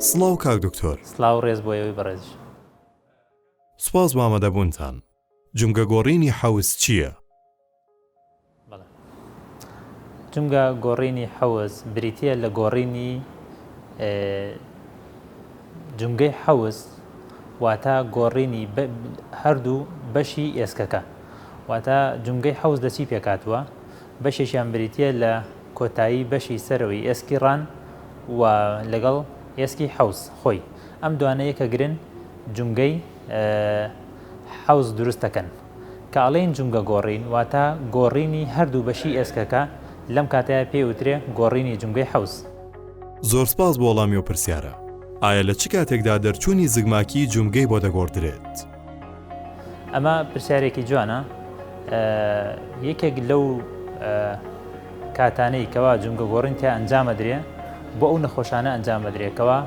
سڵاو کاک دکتۆر سلااو ڕێز بۆ ئێوەی بەڕێزش سپاس بامەدەبوونتان جمگە گۆڕینی حەوز چییە؟ جمگە گۆڕینی حەوز بریتە لە گۆڕینی جومگەی حەوز واتە گۆڕینی هەردوو بەشی ئێسکەکە واتە جومگەی حەوز لە چی پێکاتوە بەشێکیان بریتە لە کۆتایی بەشی سەرەوەی ئێسکی ڕان و لەگەڵ ئێسکی حەوز خۆی ئەم دوانەیە کە گرن جومگەی حەوز دروستەکەن کە ئەڵێین جومگە گۆڕین واتە گۆڕینی هەردوو بەشی ئێسکەکە لەم کاتەیا پێی وترێ گۆڕینی جومگەی حەوز. زۆر سپاس بۆ وەڵامی ئەو پرسیارە. ئایا لە چ کاتێکدا دەرچوونی زگماکیی جومگەی بۆ دەگۆڕدرێت؟ ئەمە پرسیارێکی جوانە. یەکێک لەو کاتانەی کەوا جومگە گۆڕین تیا ئەنجامەدرێ بۆ ئەو نەخۆشانە ئەنجامەدرێ کەوا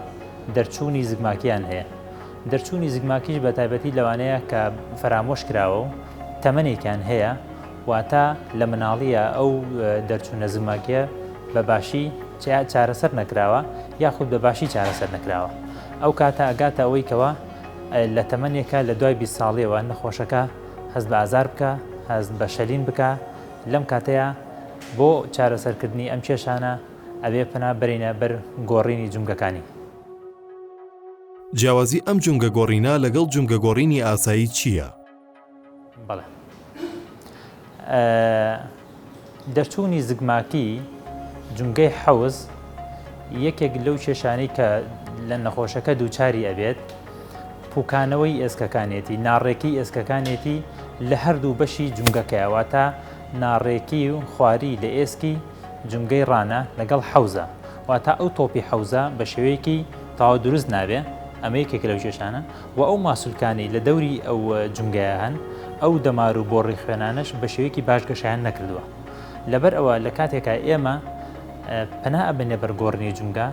دەرچوونی زگماکیان هەیە. دەرچوونی زگماکیش بە تایبەتی لەوانەیە کە فەرامۆش کراوە و تەمەنێکیان هەیە، واتە لە مناڵییە ئەو دەرچوونە زگماکییە بە باشی چارەسەر نەکراوە یاخود بە باشی چارەسەر نەکراوە. ئەو کاتە ئەگاتە ئەوەی کەوا لە تەمەنێکە لە دوای بیست ساڵیەوە نەخۆشەکە هەست بە ئازار بکا، هەست بە شەلین بکا، لەم کاتەیا بۆ چارەسەرکردنی ئەم کێشانە ئەبێ پەنا بەرینە بەر گۆڕینی جومگەکانی. جیاوازی ئەم جومگە گۆڕینە لەگەڵ جومگە گۆڕینی ئاسایی چییە؟ بەڵێ دەرچوونی زگماکی جومگەی حەوز یەکێک لەو کێشانەی کە لە نەخۆشەکە دووچاری ئەبێت پوکانەوەی ئێسکەکانێتی ناڕێکی ئێسکەکانێتی لە هەردوو بەشی جومگەکەیەوە تا ناڕێکی و خواری لە ئێسکی جومگەی ڕانە لەگەڵ حەوزە واتە ئەو تۆپی حەوزە بە شێوەیەکی تەواو دروست نابێ، ئەمە یەکێکە لەو کێشانە، و ئەو ماسولکانەی لە دەوری ئەو جومگەیە هەن، ئەو دەمار و بۆڕی خوێنانەش بە شێوەیەکی باش گەشەیان نەکردووە. لەبەر ئەوە لە کاتێکا ئێمە پەنا ئەبەینە بەر گۆڕینی جومگە،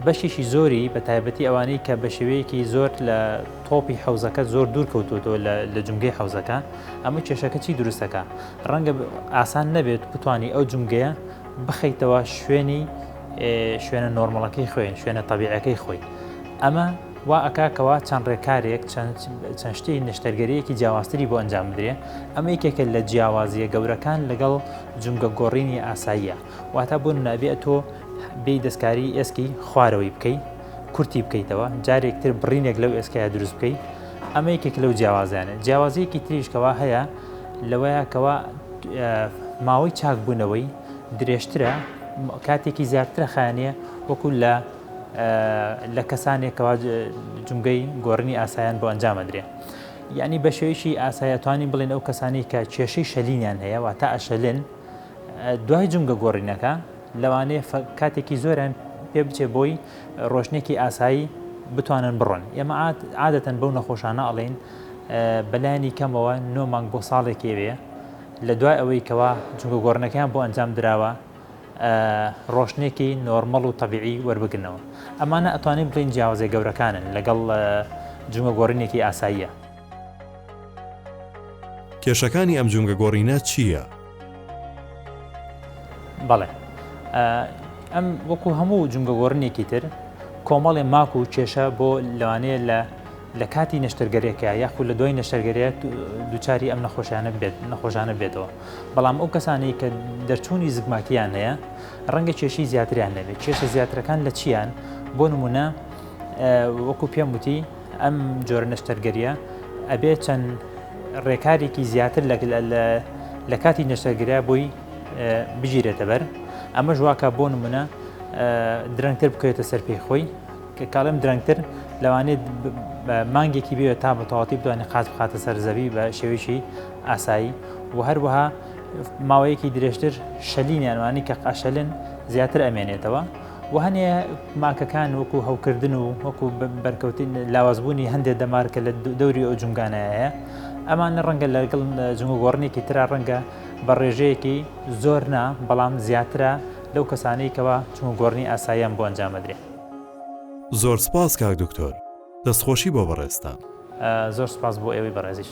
بەشێکی زۆری بە تایبەتی ئەوانەی کە بە شێوەیەکی زۆر لە تۆپی حەوزەکە زۆر دوور کەوتووەتەوە لە جومگەی حەوزەکە، ئەمە کێشەکە چی دروست دەکا؟ ڕەنگە ئاسان نەبێت بتوانی ئەو جومگەیە، بخەیتەوە شوێنی شوێنە نۆرمەڵەکەی خوێن شوێنە تەبیعەکەی خۆی ئەمە وا ئەکاکەوە چەند ڕێکارێک چەند شتی نشتەرگەریەکی جیاوازتری بۆ ئەنجام بدرێ ئەمە یکێکە لە جیاوازیە گەورەکان لەگەڵ جونگە گۆڕینی ئاساییە واتە بۆ نابێت تۆ بێ دەستکاری ئێسکی خوارەوەی بکەیت کورتی بکەیتەوە جارێک تر بڕینێک لەو ئێسکایە دروست بکەیت ئەمە یەکێک لەو جیاوازیانە جیاوازیەکی تریشکەوە هەیە لەوەیە کەەوە ماوەی چاکبوونەوەی درێژترە کاتێکی زیاترە خانە وەکو لە لە کەسانێکەوە جمگەی گۆڕنی ئاسایان بۆ ئەنجامەدرێ یعنی بە شێوەیەکی ئاسایەتوانی بڵێن ئەو کەسانی کە کێشەی شەلینیان هەیە وا تا ئەشەلن دوای جمگە گۆڕینەکە لەوانەیە کاتێکی زۆریان پێ بچێ بۆی ڕۆشنێکی ئاسایی بتوانن بڕۆن ئێمە عادەتەن بەو نەخۆشانە ئەڵین بەلایانی کەمەوە نۆ مانگ بۆ ساڵێکی وێ لە دوای ئەوەی کەوا جوگە گۆڕنەکەیان بۆ ئەنجام دراوە ڕۆشنێکی نۆرمەڵ و تەبیعی وەربگرنەوە ئەمانە ئەتوانین بڵین جیاوازە گەورەکانن لەگەڵ جوگە گۆڕینێکی ئاساییە کێشەکانی ئەم جومگە گۆڕینە چییە؟ بەڵێ ئەم وەکو هەموو جومگە گۆڕنێکی تر کۆمەڵێ ماک و کێشە بۆ لەوانەیە لە لە کاتی نەشتەرگەرێکە یاخود لە دوای نەشتەرگەرێت دوچاری ئەم نەخۆشیانە بێت نەخۆشانە بێتەوە بەڵام ئەو کەسانەی کە دەرچوونی زگماکییان هەیە ڕەنگە کێشی زیاتریان نەبێت کێشە زیاترەکان لە چیان بۆ نمونە وەکو پێم وتی ئەم جۆرە نەشتەرگەرییە ئەبێ چەند ڕێکارێکی زیاتر لە کاتی نەشتەرگریا بۆی بگیرێتە بەر ئەمە ژواکە بۆ نمونە درەنگتر بکەێتە سەر پێی خۆی کە کاڵم درەنگتر لەوانێت مانگێکی بێت تا بە تەواتی بتوانانی قاز بخاتە سەر زەوی بە شێویی ئاسایی و هەروەها ماوەیەکی درێژتر شەلینیانوانی کە قاشەلن زیاتر ئەمێنێتەوە وە هەنێ ماکەکان وەکو هەوکردن و وەکو بەرکەوتن لاوازبوونی هەندێک دەمار کە لە دەوری ئەو جومگانایە ئەمانە ڕەنگە لەگەڵ جموگۆڕنێکی تررا ڕەنگە بە ڕێژەیەکی زۆر نا بەڵام زیاترە لەو کەسانەی کەەوە جموگۆڕنی ئاساییان بۆ ئەنجامەدرێ. زۆر سپاس کاک دکتۆر دەستخۆشی بۆ بەڕێزتان. زۆر سپاس بۆ ئێوەی بەڕێزیش.